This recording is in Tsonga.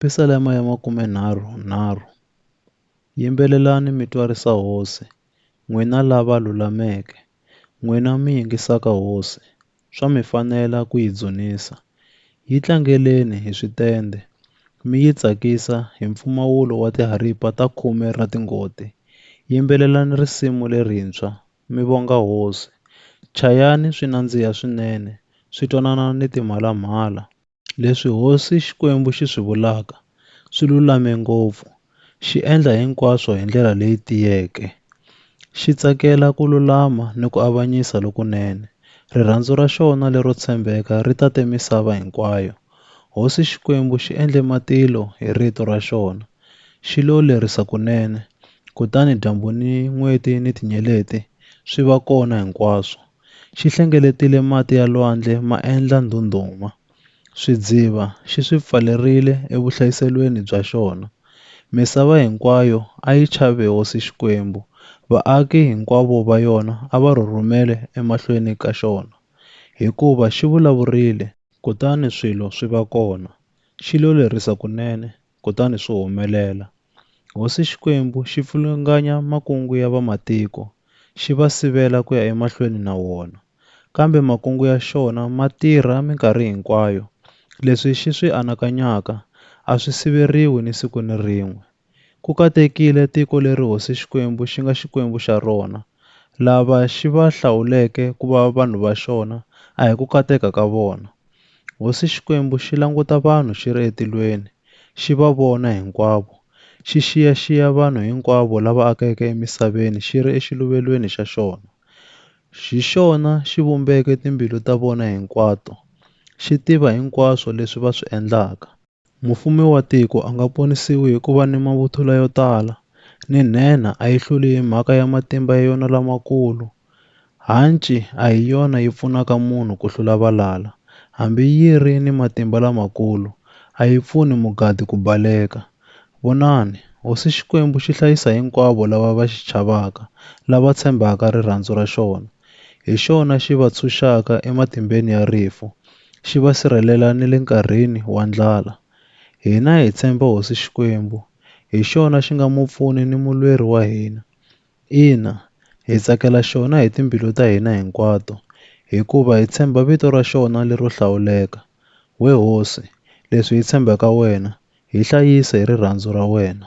Pisalema ya makumenharhu nharhu. Yimbelelani mi twarisa Hosi, n'wina lava lulameke, n'wina mi yingisaka Hosi, swa mi fanela ku yi dzunisa. Yi tlangeleni hi switendhe, mi yi tsakisa hi mpfumawulo wa tiharipa ta khume ra tingoti. Yimbelelani risimu lerintshwa, mi vonga Hosi. Chayani swi nandziha swinene, swi twanana ni timhalamhala. Leswi Hosi Xikwembu xi swi vulaka swi lulame ngopfu, xi endla hinkwaswo hi ndlela leyi tiyeke. Xi tsakela ku lulama ni ku avanyisa lokunene. Rirhandzu ra xona lero tshembeka ri tate misava hinkwayo. Hosi Xikwembu xi endle matilo hi rito ra xona, xi lo lerisa kunene, kutani dyambu ni n'weti ni tinyeleti swi va kona hinkwaswo. xi hlengeletile mati ya lwandle ma endla ndhundhuma, swidziva xi swi pfalerile evuhlayiselweni bya xona. Misava hinkwayo a yi chave Hosi Xikwembu, vaaki hinkwavo va yona a va rhurhumele emahlweni ka xona, hikuva xi vulavurile, kutani swilo swi va kona, xi lo lerisa kunene, kutani swi humelela. Hosi Xikwembu xi pfulunganya makungu ya vamatiko, xi va sivela ku ya emahlweni na wona. Kambe makungu ya xona ma tirha minkarhi hinkwayo, leswi xi swi anakanyaka a swi siveriwi ni siku ni rin'we. Ku katekile tiko leri Hosi Xikwembu xi nga Xikwembu xa rona, lava xi va hlawuleke ku va vanhu va xona a hi ku kateka ka vona, Hosi Xikwembu xi languta vanhu xi ri etilweni, xi va vona hinkwavo, xi xiya-xiya vanhu hinkwavo lava akeke emisaveni xi ri exiluvelweni xa xona. Hi xona xi vumbeke timbilu ta vona hinkwato, xi tiva hinkwaswo leswi va swi endlaka. Mufumi wa tiko a nga ponisiwi hi ku va ni mavuthula yo tala, ni nhenha a yi hluli hi mhaka ya matimba ya yona lamakulu. Hanci a hi yona yi pfunaka munhu ku hlula valala, hambi yi ri ni matimba lamakulu, a yi pfuni mugadi ku baleka. Vonani, Hosi Xikwembu xi hlayisa hinkwavo lava va xi chavaka, lava tshembaka rirhandzu ra xona. Hi xona xi va tshunxaka ematimbeni ya rifu, xi va sirhelela ni le nkarhini wa ndlala. Hina hi tshemba Hosi Xikwembu, hi xona xi nga mupfuni ni mulweri wa hina. Ina, hi tsakela xona hi timbilu ta hina hinkwato, hikuva hi tshemba vito ra xona lero hlawuleka. We Hosi, leswi hi tshembaka wena, hi hlayise hi rirhandzu ra wena.